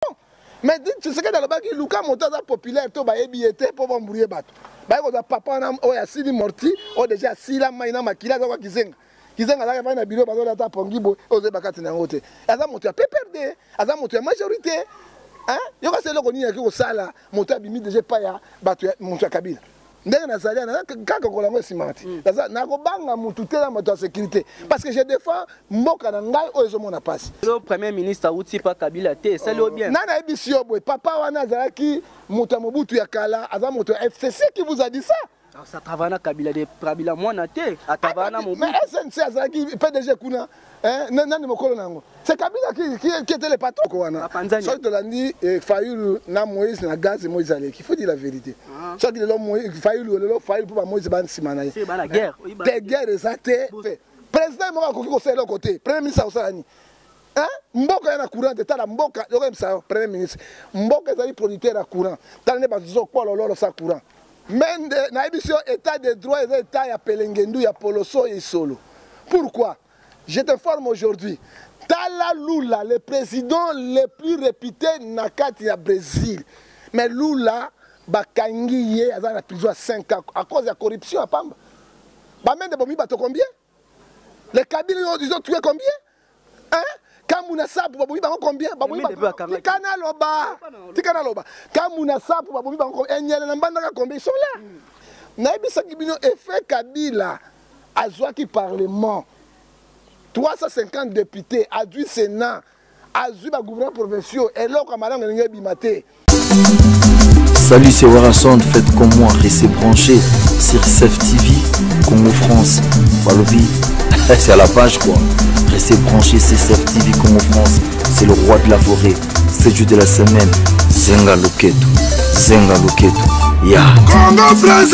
non mais tshisekedi alobaki luka moto aza populaire to bayebi ye te mpo bambrouye bato baye kozwa papa wana oyo asili morti oyo deja asila mai na makila aza kwa kizenga kizenga azalaki fai na biro bazoli ata pongi boye oyo ozoyeba kati na yango te aza moto ya pprd aza moto ya majorité yoka se eloko nini yaki kosala moto abimi deja epai ya bato moto ya kabila ndenge nazali ana kaka kola yango esimaka te mm. naza nakobanga mutu te na moto ya sécurité parce que je défends mboka na ngai oyo ezomona mpasi lo premier ministre auti pa kabila te esali yo bien nani ayebisi yo boye papa wana azalaki moto ya mobutu ya kala aza moto ya fcc qui vous a dit ça satravana kabila de kabila mwana te atavana mobu snc azalaki pdg kuna Eh, nani mokolo na yango se kabila ketele patoko wana soki tolandi eh, fayulu na moïse na gaz moïse aleki faut dire la vérité ah. soki lelo fayulu lelo fayulu mpo bamoïse ba nsima na ye te guerre eza te président moko akoki kosala eloko te premier ministre akosala nini mboka ya na courant te tala mboka yokoyebisa yo premier ministre mboka ezali producteur ya courant tala nde bato zokwalololo sa courant Mende nayebisi yo etat de droit eza etat ya pelengendu ya poloso ya isolo pourquoi je te forme aujourd'hui tala lula le président le plus réputé na kati ya brésil mais lula bakangi ye aza na prison ya 5 ans à cause ya corruption ya pamba bamende bomi bato combien Les Kabila, ils ont tué combien Hein kamuna sapu babomi bango combien babomi tika naloba tika naloba kamuna sapu babomi bango enyele na mbandaka combien sont là mm. nayebisaki bino effet kabila azwaki parlement 350 député azwi sénat azwi ba gouverneur provinciaux eloko ya malamu elingi ebima te Salut, c'est Warason. Faites comme moi, restez branchés sur CEF TV, Congo France. Balobi, c'est à la page quoi. Restez branchés sur CEF TV, Congo France. C'est le roi de la forêt. C'est jour de la semaine. Zenga Loketo. Zenga Loketo. Ya. Yeah. Congo France,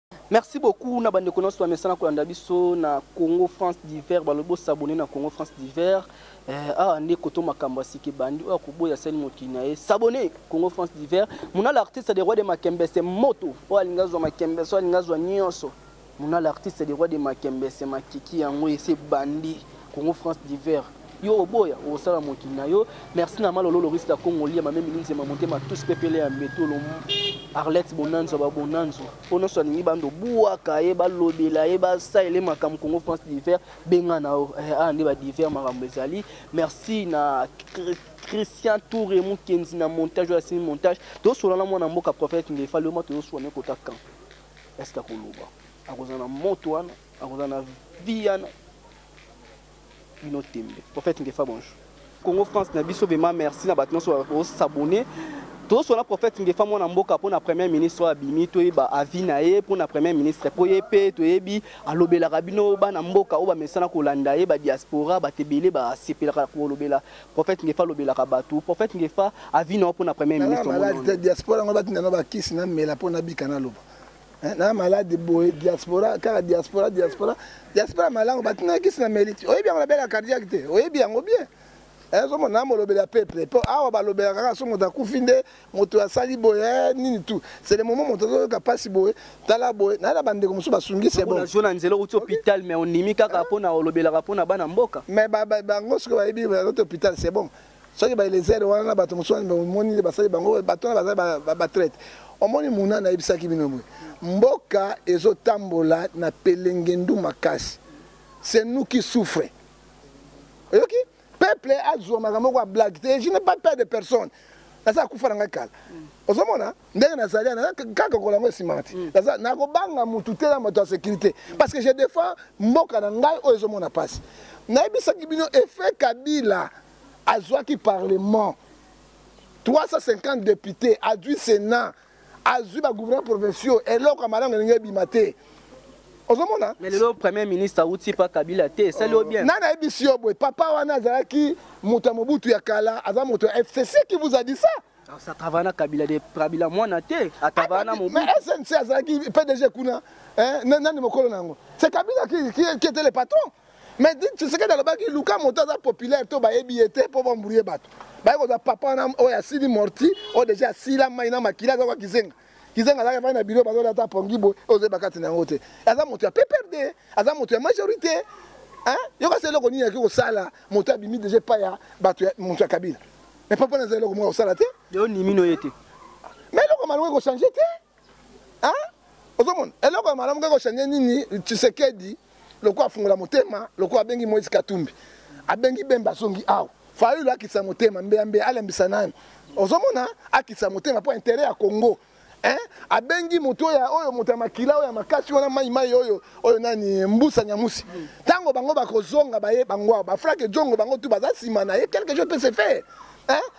Merci beaucoup na bandeko nyonso bamesana kolanda biso na Congo France Divers balobi bosabone na Congo France Divers eh, awa nde koto makambo ya sika ebandi oyo akoboya asali mokili na ye sabone Congo France Divers muna l'artiste de roi de makembese moto oyo alingi azwa makembese oyo alingi azwa nyonso muna l'artiste de roi de makembese makiki yango esi ebandi Congo France divers yo oboya osala mokili na yo merci na malolo lorisi ya congo lia mamemi linzema motema tous pepele ya mbeto arlette bonanzo babonanzo mpo nyonso alingi bando buaka ye balobela ye basalele makambo congo france divers benga na yo eh, awa ah, nde badivers makambo ezali merci na christian toure mokenzi na montage oyo asimi montage tosolana mwana mboka prophète ngefa leoma tozoswane kota camp eske akoloba akozala na moto wana akoza na vie yana bino tembe prophète ngefa bonjour congo france na biso vraiment merci na bato nyonso bakosabone tozoswana prophète ngefa mwana mboka mpo na premier ministre oyo abimi toyeba avi na ye mpo na premier ministre mpo ye mpe toyebi alobelaka bino bana mboka oyo bamesana kolanda ye badiaspora bato ebele basepelaka kolobela prophète ngefa alobelaka bato prophète ngefa avi na yo mpo na premier ministre diaspora yango batinda na bakisi na mela mpo nabika naloba Eh, na malade boye diaspora kaka diaspora diaspora diaspora malango batinaka kisi na meliti oyebi yango nabela cardiaque te oyebi yango bien ezomona eh, na molobeli ya peuple mpo awa balobelaka kaka so moto akufi nde moto asali boye eh, nini tu c'est le moment moto azoyoka mpasi boye tala boye naye na bandeko mosusu basungisi ebonazwa na nzela okuti hôpital mais ondimi kaka mpo na olobelaka mpo na bana mboka mais bango soki bayebi bazote hôpital c'est bon soki baelezere wana na bato mosusu wana omoni nde basali bango bato wana bazali batraite omoni muna nayebisaki bino boye mboka ezotambola na pelengendu makasi se nuki souffre oyoki peuple azwa makambo moko ya blague te je ne pas peur de personne naza akufa na ngai kala ozomona ndenge nazali ana kaka kola yango esimaka te mm. naza nakobanga motu te na moto ya sécurité mm. parce que je défends mboka na ngai oyo ezomona mpasi nayebisaki bino effet kabila azwaki parlement 350 député azwi sénat azwi bagouverneur provinciaux eloko ya malamu elingi ebima te ozomona mais lelo premier ministre awuti pa kabila te esali yo oh. bien nani ayebisi yo boye papa wana azalaki moto ya mobutu ya kala aza moto ya fcc qui vous a dit ça Ça travaille na Kabila de Kabila mwana te, a travaille na Mobutu. Mais SNC azalaki PDG kuna, hein, nani mokolo nango. C'est Kabila qui, qui, qui était le patron. Mais dit tu sais que dans le bac Luka moto aza populaire to ba ebiete po ba mbrouiller bato. Ba ko za papa na o ya sili morti, o déjà sila mai na makila za kwa kizenga. Kizenga za ka na bureau ba za ta pongi bo, o ze bakati na ngote. Aza moto ya PPRD, aza moto ya majorité. Hein? Yoka selo ko nini ya ko sala, moto abimi déjà pa ya bato ya moto ya Kabila. mais papa naza eloko moko kosala te leo nimino ye te mais eloko malamu ekochange te a ozomona eloko ya malamu ekochange nini tshisekedi lokola afungola motema lokola abengi moïse katumbi abengi bemba azongi awa fayulu akitisa motema mbeyambeya alembisa nani ozomona akitisa motema mpo interet ya congo Hein? abengi moto oyo oyo moto ya makila oyo ya makasi wana mai mai oyo oyo nani mbusa nyamusi ntango bango bakozonga baye bango awa bafrake jongo bango tu baza nsima na ye quelque chose peut se faire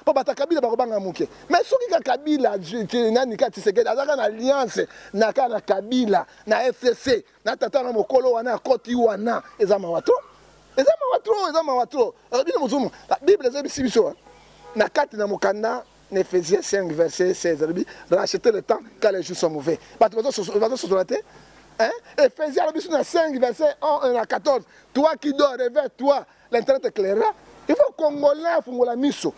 mpo bata kabila bakobanga moke mais soki ka kabila nani ka tisekedi azalaka na alliance na ka na kabila na fcc na tata na mokolo wana akoti wana eza mawa to eza mawa to eza mawa to bino mosumu bible ezebisi biso na kati na mokanda Ephésiens 5 verset 16 alobi racheter le temps car les jours sont mauvais bato bazososola te hein? Ephésiens alobi sur na 5 verset 1 na 14 toi qui dors réveille toi l'internet éclairera il faut congolais afungola miso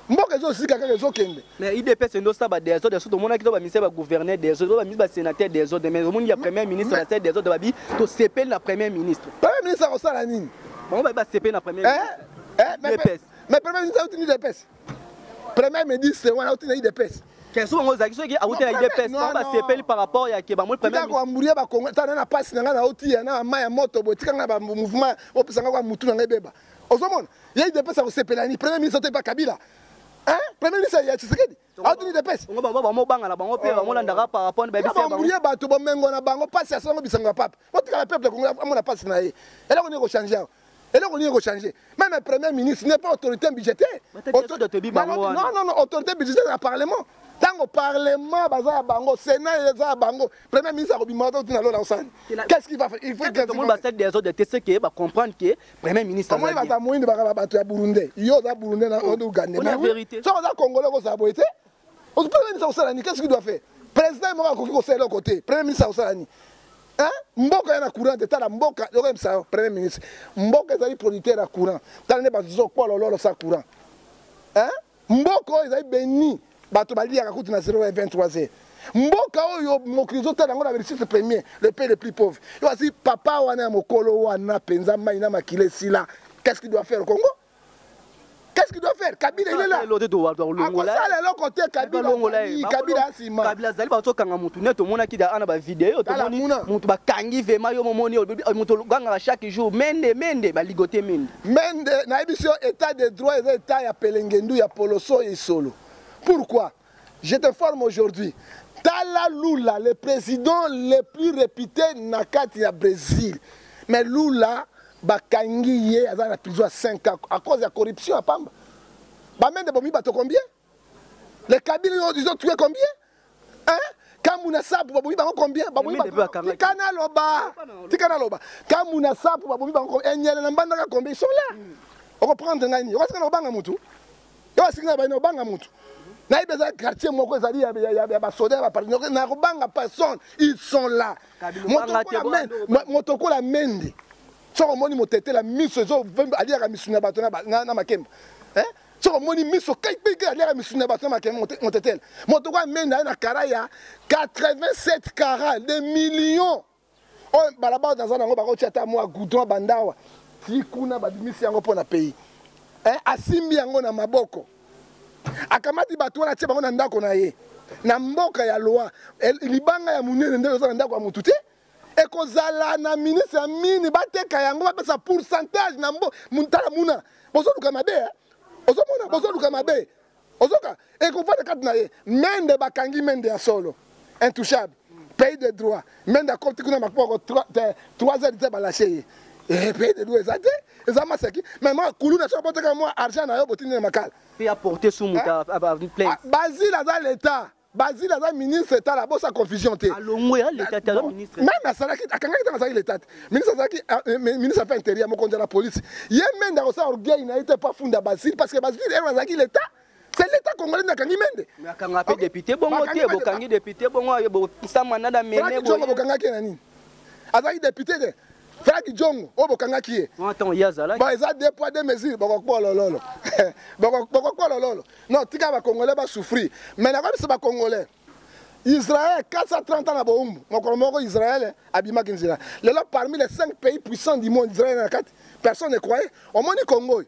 mboka ezosika kaka ezokende mais idps endo sala badesordre so tomonaki to baministre bagouverneur desordre baministre basénateur desordre mais omoni ya premier ministre basala desordre babi tosepeli na premier ministre premier ministre akosala nini bango babi basepeli na premier eh, eh, mais premier ministre auti ni dps premier ministre wana auti na idps kesu bango ozalaki soki awuti na idps bango basepeli par rapport ya ke bango premier koamburia bakongo ata na na pasi na ngai naotiya na mai ya moto boye tika ngai bamouvement opesa ngai kwa mutu na ngai ebeba ozomona ye idps akosepela ni premier ministre otepa kabila premier ministre ya tshisekedi aotuni idps bango bangana bango mpe bango landaka par rapport babisababuria bato bomengo na bango mpasi asalanga bisango ya pape botikala peuple kongo amona mpasi na ye eloko nini ekochange awa eloko nini ekochange meme premier ministre n'est pas autorité budgétaire non non non autorité budgétaire ya parlement ntango parlement baza ya bango sénat eza ya bango premier ministre akobimaka to tina lola osani qu'est-ce qu'il va faire il faut que tomoni basali des ordres te ce que ba comprendre que premier ministre amoni bata moyini bakaba bato ya burundais yo oza burundais na ougandais mais oui soki oza congolais okozala boye te Premier ministre akosala nini? Qu'est-ce qu'il doit faire? Président moko akoki kosala eloko te. Premier ministre akosala nini? Hein? Mboka ya na courant te tala mboka yokoyebisa yo premier ministre mboka ezali producteur ya courant tala nde bato zokwalololo sa courant hein? mboka oyo ezali beni bato baliyaka kutu na 0 23 heures mboka oyo mokili ezotala yango na belisitre premier le pays le plus pauvre yo asi papa wana ya mokolo wana mpenza mai na makila esila qu'est ce qui doit faire congo Qu'est-ce qu'il doit faire Kabila il est là. L'autre doit doit longola. Ah, ça le côté Kabila longola. Kabila sima. Kabila zali ba tokanga mutu neto mona ki da ana ba vidéo to moni mutu ba kangi vema yo momoni mutu ganga chaque jour mende mende ba ligote mende. Mende na biso état de droit et état ya pelengendu ya poloso et solo. Pourquoi Je te forme aujourd'hui. Tala Lula, le président le plus réputé na kati ya Brésil. Mais Lula bakangi ye aza na prison ya 5 ans à cause ya corruption ya pamba. Bamende bomi bato combien? Les Kabila ils ont tué combien? Hein? kamuna sapu babomi bango combien babomi tika naloba tika naloba kamuna sapu babomi bango enyele na mbandaka combien ils sont là okoprendre ngai nini okosika na kobanga motu yo asiki na baina obanga motu nayebi eza quartier moko ezali ya basoda ya bapartinaire nakobanga personne ils sont là moto okola mende soki omoni motetela miso aliaka misuni ya bato na makemba eh? soki omoni miso kaikaike aliaka misuni ya bato na makemba motetela moto okola mende aye na kara ya 87 kara de millions oyo balabala naza nango bakotia ata mwa goudron bandawa ti kuna babimisi yango mpo na pays eh, asimbi yango na maboko akamati bato wana atie bango na ndako na ye na mboka ya loi eh, libanga ya monene nde oza na ndako ya motu te ekozala na ministre ya mini bateka yango bapesa pourcentage na mbo tala muna bozoluka mabe eh? ozomona bozoluka mabe ozoka ekofanda kati na ye mende bakangi mende ya solo intouchable pays de droit mende akoti kuna makpoko 3 heures te balashe ye eh, pays de droit eza te eza maseki mais mwa kulu na soki boteka mwa argent na yo botindi na makala bazila aza leta Bazile aza ministre tala bosa confusion te. Alongwe ya leta tala ministre. Meme asalaki akangaki tanga azalaki leta. Ministre azalaki euh, euh, ministre affaires intérieures mokonzi la police. Ye mende akosala orgueil na ye te pa funda Bazile parce que Bazile ero azalaki leta. C'est l'État congolais n'a kangi mende. Na kanga pe député bongo te bo kangi député bongo ye bo sama na da mene. Franck Djongo bo kanga ke nani? Azalaki député te. Fadi Jongo oyo bokangaki ye ba eza deux poids deux mesures bakokuwa lololo bakokuwa lololo non tika bakongolais basouffrir mais nakoyebisa bakongolais Israël 430 ans na boumbu mokolo moko Israël abimaki nzela lelo parmi les 5 pays puissants du monde Israël na kati personne ne croyait omoni Congo oyo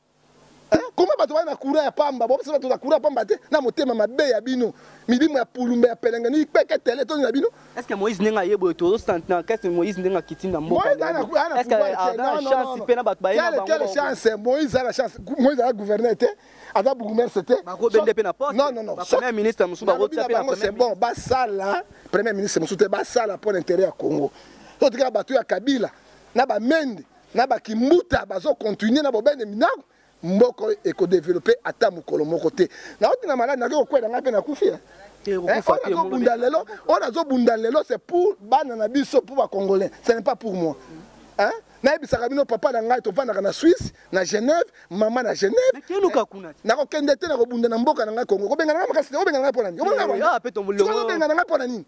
koma bato baya na courant ya pamba bopesa bato na courant ya pamba te na motema mabe ya bino milimo ya pulumba ya pelengani ipeke tele toni na bino eske moïse ndenge aye boye tozosantna kese moïse ndenge akiti na mbokaeaachance mpe na bato bayequelle chance moïse aza na chance moïse aza gouverneur te aza bourgmestre te bakobende mpe na postepremier ministre mosusu bakotia mpe na c'est bon basala premier ministre mosusu te basala mpo na intérêt ya congo totika bato ya kabila na bamende na ba kimbuta bazo continuer na bobende minango mboko eko développer ata mukolo moko te na oti na malade na ko kwela ngai pe na kufi hein eh, eh, bunda lelo on azo bunda lelo c'est pour bana na biso pour ba congolais ce n'est pas pour moi hein nayebisaka bino papa na ngai tovandaka na swisse na genève mama na genève nakokende te nakobunda na mboka na ngai kongo kobengana ngai makasi te obengana ngai mpo na nini obenga na ngai mpo na nini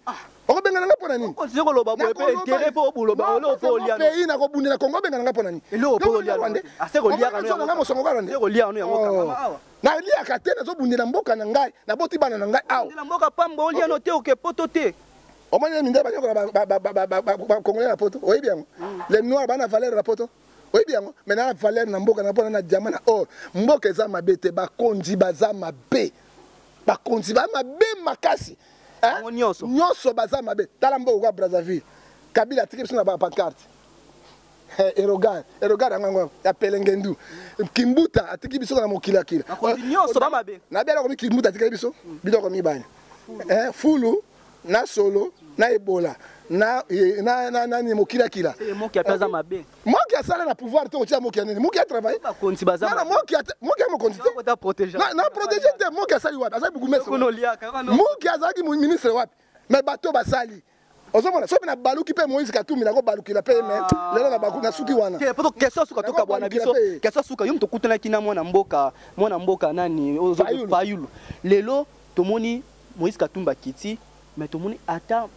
okobengana ngai mpo na nini okontinue koloba boye mpe intere mpo oboloba ole opo olia pays nakobundela kongo obengana ngai mpo na nini eloko opo olia rwande ase kolia kano yango ngai mosongo kaka nde kolia kano yango kaka oh. awa naliaka te nazobundela mboka na ngai naboti bana na ngai awa na mboka pamba olia no te oke poto te omoni mindele banyokola bakongole na poto oyebi yango hmm. le noir bana valeur na poto oyebi yango me na valeur na mboka na mpona na diama na or mboka eza mabe te bakonzi baza mabe bakonzi ba mabe makasi nyonso baza mabe tala mboka kwa brazzaville kabila atiki biso na bapancarte erogar erogar yango yango ya pelengendu kimbuta atiki biso na mokili ya kila na bela komi kimbuta atikali biso biloko mibale fulu na solo na ebola na eh, na na nani mokila kila moki ataza eh, mabe moki asala na pouvoir te otia moki nini moki a travailler ba konti baza na moki moki mo konti te na protéger na protéger te moki asali wapi asali bugume moki azaki ministre wapi mais bato basali ozomona soki nabaluki mpe moïse katumbi nakobalukela mpe me ah. lelo nabaku nasuki wana question suka tokabwana biso question suka yo moto okutanaki na mwana mboka mwana mboka nani fayulu lelo Tomoni Moïse Katumbi akiti mais tomoni ata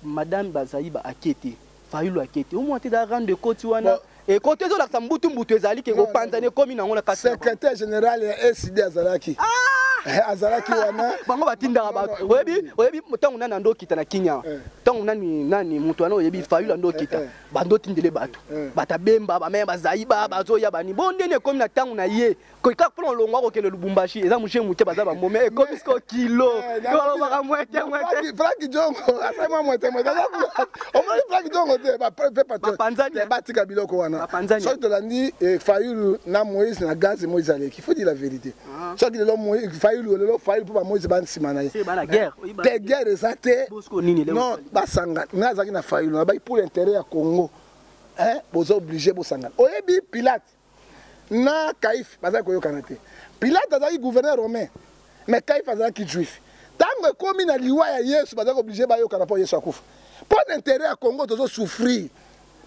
madame Bazaiba ake te. Fayulu ake te. Omona te da rang de koti wana ekoti ezolakisa mbutu mbutu ezali ke kopanzana ekomi nango na kati. Secrétaire général ya ECD azalaki. Ah! Eh, azalaki wana bango batindaka bato oyebi oyebi ntango nani ando okita na kinya eh. ntango nani nani moto wana oyebi fayulu ando okita eh, bando otindele bato batabemba bamaya bazaiba bazoya bani bo ndeni ekomi na ntango na ye koika mpona olongwa kokende lubumbashi eza moshe moke baza bamome ekomi siko kilo balobaka mwete mwete franki jongo asali mwa mwete mwete omoni franki jongo te bapanzani batika biloko wana soki tolandi fayulu na moïse na gaz moïse aleki faut dire la vérité soki lelo fayulu lelo fayulu mpo bamoïse ba nsima na ye te guerre eza te non basanga nga azalaki na fayulu nabaki pour intérêt ya congo boza oblige bosangana oyebi pilate na kaife bazali koyokana te pilate azalaki gouverneur romain mais kaife azalaki juif ntango ekomi na liwa ya yesu bazali koblige bayokana mpo yesu akufa mpo na intere ya congo tozosouffrir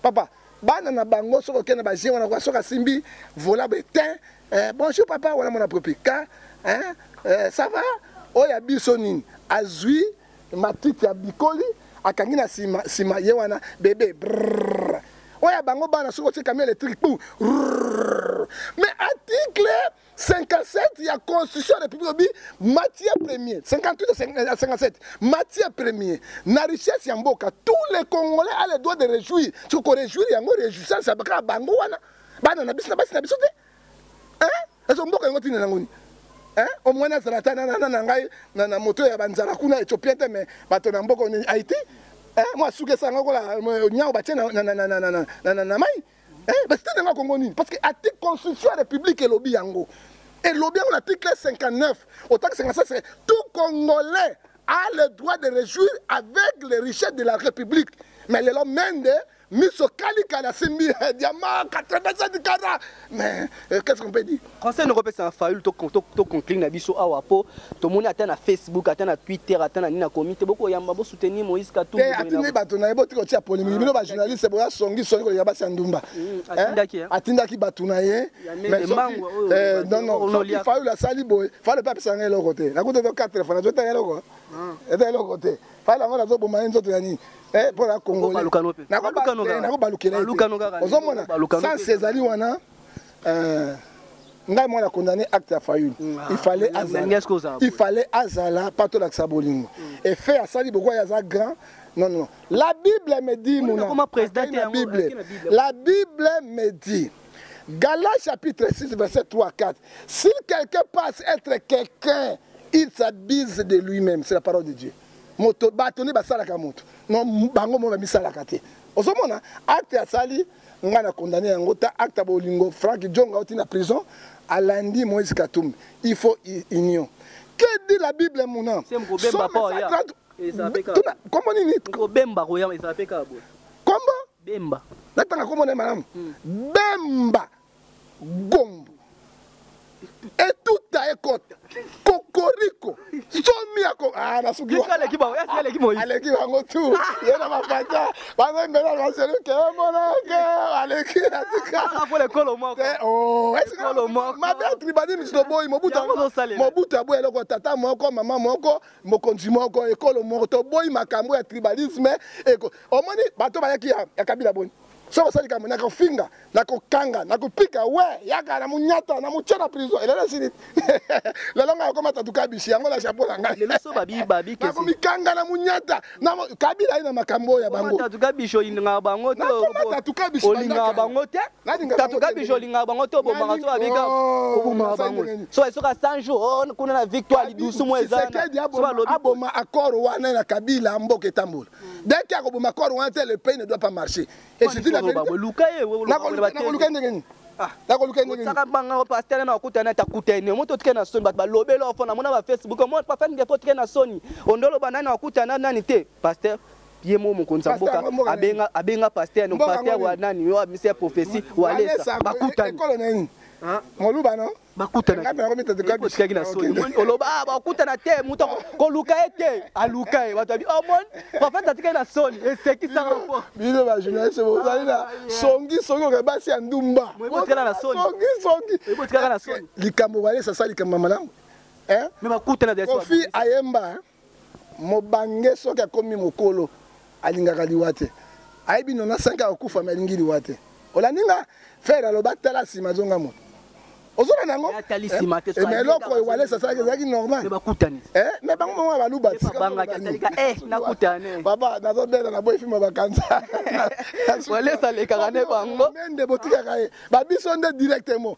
papa bana na bango soki okei na baje wana soki asimbi vola betin eh, bonjour papa wana mwana propika eh, eh, ça va oyo ya biso nini azwi matiti abikoli akangi na sima sima ye wana bebe brrr. oyo bango bana soki otie camion électrique pou mais article 57 ya constitution ya république obi matière premier 58 à 57 matière premier na richesse ya mboka tous les congolais a le droit de réjouir soki koréjouir yango réjouissance ya kaka bango wana bana na biso na basi na biso te ezo mboka yango ntina nango nini omwani azala ata nana na ngai na moto ya banzala kuna ethiopien te me bato na mboka nini haiti mwa suki esanga kola nyao batie na mai basite na ngai kongo nini parce que article constitution ya république elobi yango elobi yango na article 59 otakisanga sasa tout congolais a le droit de réjouir avec les richesses de la république mais lelo mende miso kali kali asimbi eh, diama 87 kara mais euh, qu'est ce qu'on peut dire conseil noko pesa na fayulu to to to conclure na biso awa po tomoni ata na facebook ata na twitter ata na nina komite boko yamba bo soutenir Moïse Katumbi eh atindi bato na yebo tiko tia polémique ah, bino ba journaliste boya songi songi ko yaba sandumba mm, atindaki eh, eh? atindaki bato na ye mais euh, non non soki fayulu asali boye fayulu pe apesa ngai eloko te nakuta to 4 fois nazota eloko ah. eza eloko te fala yango nazoboma ye nzoto ya nini eh, mpo na kongolenakobalukela eh, ozomona sanse ezali wana eh, ngai mwana condamné acte ya fayulu mm, ah, il fallait azala mpa tolakisa bolingo mm. efe asali bokwai aza grand non non la bible me dit mona la bible me dit Galates chapitre 6 verset 3 4. Si quelqu'un passe être quelqu'un, il s'abuse de lui-même. C'est la parole de Dieu. Moto bato nde basalaka moto. Non bango mo bamisalaka te. Ozomona acte asali ngai na condamne yango ta acte ya bolingo Frank Djonga oti na prison alandi Moïse Katumbi. Il faut union. Que dit la Bible mon nom? Somme 130 Comment nini? Kobemba koyama ezala pe kabo. Kombo Bemba. Natanga kombo na ye malamu. Bemba Gombo. Etuta ekota. Kokoriko. Somi ako ah na suki. Kika leki ba, yasi leki moyi. Aleki bango tu. Ye na mapata. Bango mbela na selu ke mona ke aleki na tika. Ah pour le kolo moko. Eh oh, est-ce que kolo moko. Ma belle tribalisme to boy mobuta. Mobuta boy eloko tata moko, maman moko, mokonzi moko ekolo moko toboyi makambo ya tribalisme eko omoni bato bayaki ya, ya kabila boni soki osali kambo na kofinga na kokanga na kopika we yaka na monyata na motya na prison elelo esili lelo ngai okoma tatuka bisi yango na chapeau na ngai nakomikanga na monyata na kabila ye na makambo oyo ya bango tatuka biso olingaka bango te olingaka bango te tatuka biso olingaka bango te obomaka so babika obomaka bango so esoka 100 jours oh, kuna na victoire lidusu mo eza aboma accord wana na kabila mboka etambola dès ke akoboma accord wana te le pays ne doit pas marcher nakoluka ndenge nini nakoluka ndenge nini banga o pasteur na okuta na takuta ene moto tike na soni bato balobela ofo na mona ba facebook mo pa fani defo tike na soni ondolo bana na okuta na nani te pasteur ye mo mokonzi ya mboka abenga abenga pasteur no pasteur wa nani yo amisi ya prophetie wa lesa bakutani moluba no bakutana ngambe na komita tukadi otikaki na soni oloba ah bakutana te muto koluka ye te aluka ye bato abi oh mon prophète atikaki na soni esekisa bango bino ba journaliste bozali na ah, songi songi oka basi ya ndumba botikala na soni songi songi botikala na soni likambo balesa sa likambo malamu eh mais bakutana de kofi ayemba mobange soki akomi mokolo alingaka liwa te ayebi nona 5 ya kokufa me alingi liwa te olandi nga fere aloba tala nsima azonga moto ozona nango me eloko ewalesa asalaki ezalaki normal me bango moko baluba papa nazobela na boyi filme bakanzamende botikaka ye babiso nde directement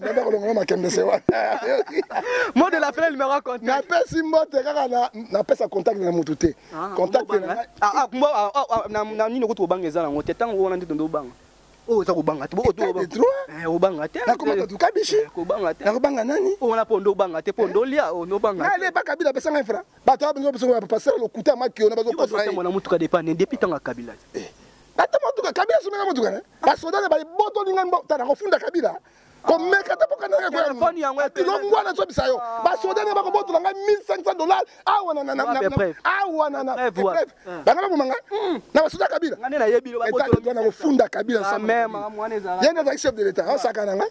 nde kolongola makembe se wana mo de la fin numéro contact napesi mbote kaka na napesa contact na motu te ah, contact na ah, ah, nini okuti kobanga eza nango te ntango wana nde tondo obanga oyo oza kobanga te obanga te nakobanga nani wana mpo nde obanga te mpo nde olia onobangaaleba kabila apesanga infra bato abengi opesango ya pasala lokuta ya makiona bazokosaamona motuka depane depuis ntango ya kabila eh. ata motuka kabila asomeka motuka ne basoda ne balibotoli ngai mbota nakofunda kabila komeka te bokanaka koyalongwa na zobisa yo ah. basoda ne bakobotola ngai 1500 dollar awa awa banga baboma ngai hmm. na basoda kabila nakofunda kabila ye nde azalaki chef de l'état asaka na ngai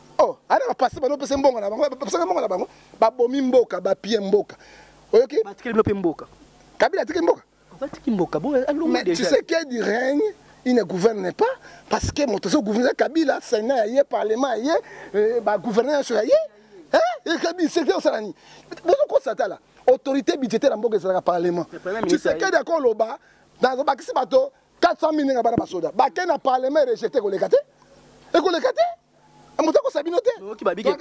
oh ana ba passer bano pesa mbongo na bango ba pesa mbongo na bango ba bomi mboka ba pie mboka oyoki ba tikeli mpe mboka kabila tikeli mboka ba tikeli mboka bon alongo déjà mais tu sais qu'il du règne il ne gouverne pas parce que moto zo gouverne kabila sénat ya ye parlement ya ye euh, ba gouverneur sur ya ye hein kabila c'est que ça ni bozo ko satala autorité budgétaire ya mboka ezalaka parlement tu sais qu'il d'accord loba dans bakisi bato 400 000 ndenge bana basoda bake na parlement rejete ekoleka te ekoleka te Eh, moto akosa bino te oyoki babiki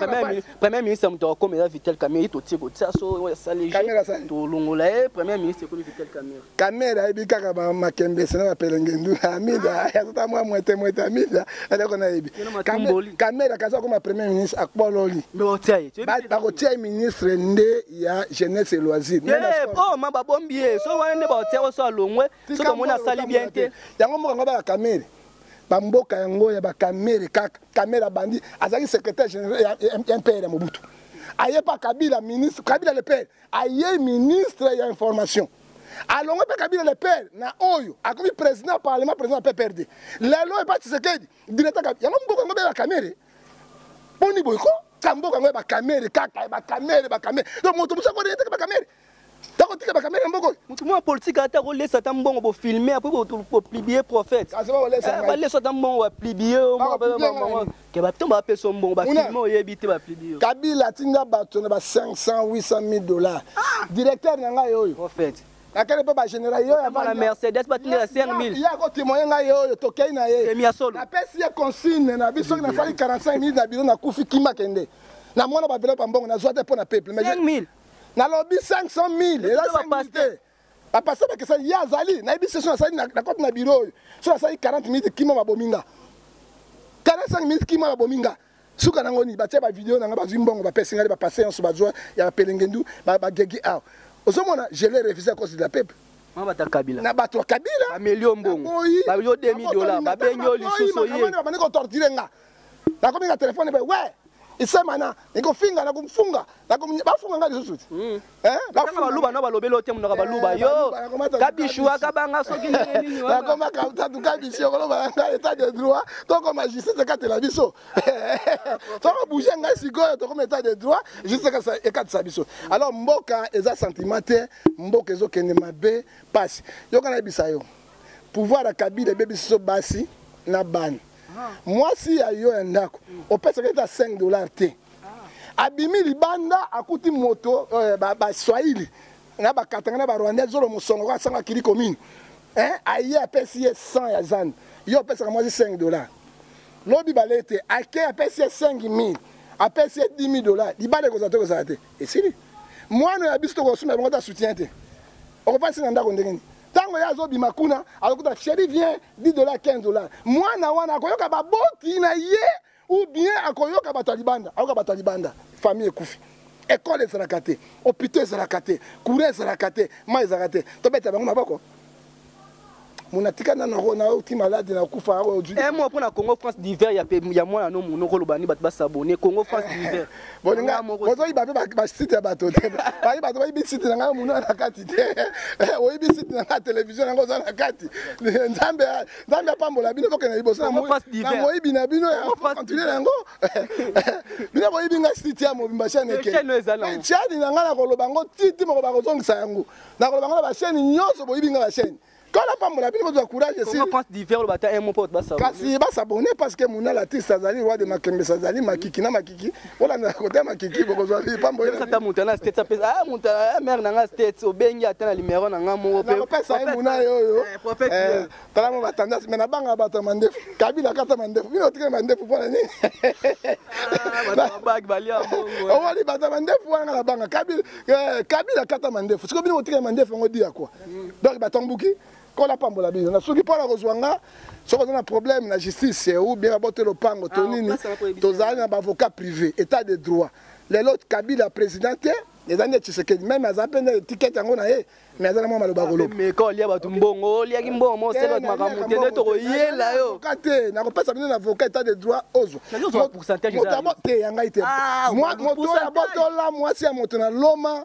premier ministre moto akokoma eza vital camere totie kotia so oyo asali tolongola ye premier ministre ekomi vital camere camere ayebi kaka makembese na bapelengendu amida azota mwa mwete mwete amida eloko nayebi camere akaza akoma premier ministre akpololi bakotia ye ministre nde ya jeunesse et loisir eh, oh, ma babombi ye so wana nde baotia oso alongwe so tomoni asali bien te yango moko yango baka camere bamboka yango ya bakamere kaka kamere abandi azalaki secrétaire général ya mpr ya mobutu aye mpa kabila ministre kabila le père aye ministre ya information alongwe mpe kabila le père na oyo akomi président ya parlement président ya pprd lelo epa tshisekedi directeur yango mboka yango bela kamere boni boye ko ka mboka yango ya bakamere kaka ya bakamere bakamere donc moto mosu akoreeteke bakamere Tako tika ba kamera mboko. Mutu mwa politique ata ko lesa ta mbongo bo filmer après bo ko publier prophète. Kasi ba lesa. Eh, ba lesa ta mbongo ba publier o mwa ba mbongo. Ke ba tomba pe so mbongo ba filmer oyebi te ba publier. Kabila tinga bato na ba 500 800 000 dollars. Ah! Directeur na ngai oyo. Prophète. akende mpe bagénéral yo yabana mercedes batindela 5000 ye akotemoye ngai ye oyo tokei na ye napesi ye consigne na biso soki nasali 45 minutes na bino nakufi kima kende na mwana bavelo pa mbongo nazwa te mpo na peuple nalobi 500 mille eza 5 te bapasteur bakesani ye azali nayebi se so nasali na kote na biro oyo so nasali 40 minute kima babomi nga 45 minute kima babomi nga suka nango nini batya bavideo na nga bazwi mbongo bapesi ngai bapasteur nyonso bazwa ya bapelengendu bagegi awa ozomona je le refuse à cause de la peuple na bato ya kabila na bato ya kabila bamelio mbongo bayo 2000 dola babengi yo lisusu ye babandi kotortire nga nakomi na telefone boye we isemana nikofinga nakomfunga bafunga nga lisusu te hmm. eh, baluba na balobeli ote monaka baluba eh, yo kabishu akabanga soki nakoma kautatu kabishu okoloba nga etat de droit tokoma justice ekatela biso soko bouge ngai sikoyo tokoma etat de droit justice ekatisa biso alors mboka eza sentiment te mboka ezokende mabe mpasi yoka nayebisa yo pouvoir ya kabila ebebisi so basi na bana mwasi ya yo ya ndako opesaka ete 5 dollar te abimi libanda akuti moto eh, baswahili na bakatanga na barwandais zolo mosongo kaka sango akili komini eh, aye apesi ye 100 ya zando yo opesaka mwasi 5 dollar lobi bale ete ake apesi ye 5 000 apesi ye 10 000 dollar libanda ekozala te ekozala te esili mwana ya biso tokosumela bango ta soutien te okopasi na ndako ndenge nini tango ye azobima kuna azokuta cheri vient 10 dollars 15 dollars mwana wana akoyoka baboti na ye ou bien akoyoka bato ya libanda ayoka bato ya libanda famille ekufi ekole ezalaka te hopito ezalaka te courant ezalaka te ma ezalaka te tobeta bango maboko mona tika na nako na oti malade na kufa oyo un mois pona Congo France d'hiver ya pe ya mwana no monoko lobani bato ba s'abonner Congo France d'hiver bolinga bozoyiba mpe basite ya bato te bayi bato bayibi site na ngai monua na kati te eh, oyibi site na ngai televizio yango oza na kati eh, nzambe nzambe apambola bino bokenda liboso na moyibi na bino continue na yango bino boyibi ngai site ya mobimba chaine ekechani na ngai nakoloba yango titi moko bakozongisa yango nakoloba yango na basheni nyonso boyibi ngai basheni kala pambola bino bozwa courage kasi basabone parce que mona latiste azali roi de makembesa azali makiki na makiki olandaka kota makiki bokozwa pambolata moto na state apesa ah, moto ah, mare na nga state obengi ata na limero na nga moko peopesa ye mona ye oyo eh, eh, tala mo batandasi me nabanga bato ya mandefu kabila kata mandefu bino otikeli mandefu mpo na nini ah, owali bato ya mandefu wana nabanga kabila eh, kata mandefu siko bino otikeli mandefu yango diya kua donc bato mbuki kola pambola bino na soki mpona kozwa nga soki oza na problème na justice ou bien babote lopango to ah, nini tozali na baavocat privé état de droit lelo kabila président te eza nde tshisekedi meme aza mpe nde etikete yango na ye mais aza na mwa maloba kolobameka olia bato mbongo oliaki mbongo mosala bato makambo te nde tokoyela yo ka te nakopesa bino na avocat etat de droit ozwa te ya ngai te ah, moto ya botola mwasi ya moto na loma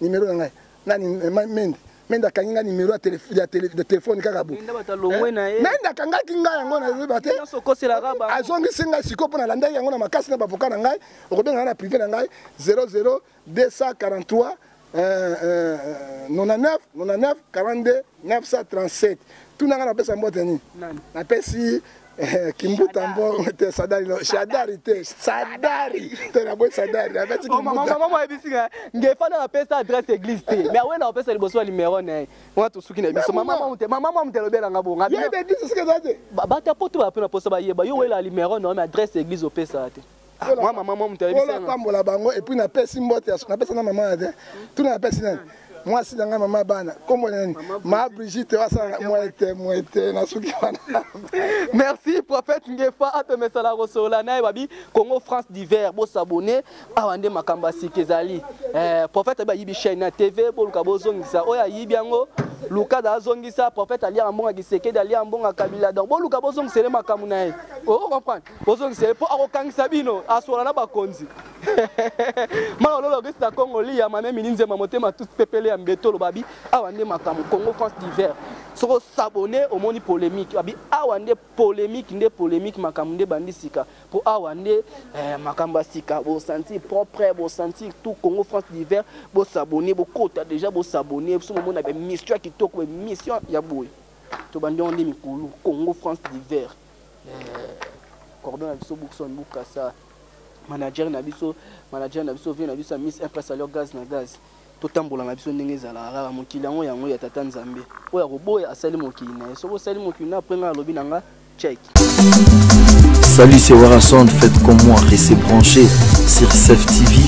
Numéro na ngai. Nani eh, Mende. Mende akangi nga numéro ya téléphone ya téléphone kaka bo. Mende bata longwe eh, na ye. Mende akangaki nga yango na yeba te. Nso kosela raba. Azongisi nga siko pona landaki yango na makasi na bavoka na ngai. Okobenga na privé na ngai 00 243 99 99 42 937 tuna nga napesa mbote nini napesi Eh, kimbuta mbongo te sadari no shadari te sadari te na boye sadari na beti kimbuta mama mama mama ebisi nga ngefana na pesa adresse église te mais awena na pesa liboso numéro na nga to suki na biso mama mama te mama mama te lobela nga bonga ye be biso sika te ba ta poto ba pona posa ba yeba yo wela numéro na mais adresse église opesa te Ah, mwa mama mwa moto ayebisapambola bango epuis napesi mbote napesa na mama ya te tuna napesi nani mwasi na ngai mama bana nkombo na nani ma brigite wasala mwete mwete na suki wana merci prophète ngefa apemesala kosolola naye babi congo france diver bosabone awa nde makambo ya sika ezali eh, prophète abi ayibi chaine ya tv boluka bozongisa oyo ayibi yango lukada azongisa prophète aliaka mbonga kisekedi aliaka mbonga kabila donc boluka bozongisa ele makambo na ye o oh, comprendre bozongisa ye mpo akokangisa bino aswala na bakonzi mala oloba okesi na congo liya mame mini nzema motema tout pepele ya mbeto olobabi awa nde makambo congo france diver soko sabone omoni polémique abi awa nde polémique nde polémique makambo nde bandi sika mpo awa nde eh, makambo ya sika bosanti propre bosanti tout congo france diver bosabone bokota déjà bosabone so momona bemission ya kitoko bemission ya boye tobandi yango nde mikulu congo france diver cordon na biso bookson bukasa manager na biso manager na biso vie na biso ya miss impress alors gaz na gaz totambola na biso ndenge ezalaka kaka mokili yango yango ya tata nzambe oyo akoboya asali mokili na ye soki osali mokili na apres ngai alobi na nga check Salut, c'est Warason. Faites comme moi, restez branchés sur CEF TV,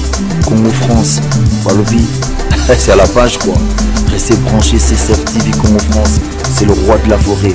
Congo France. Balobi, c'est à la page quoi. Restez branchés sur CEF TV, Congo France. C'est le roi de la forêt.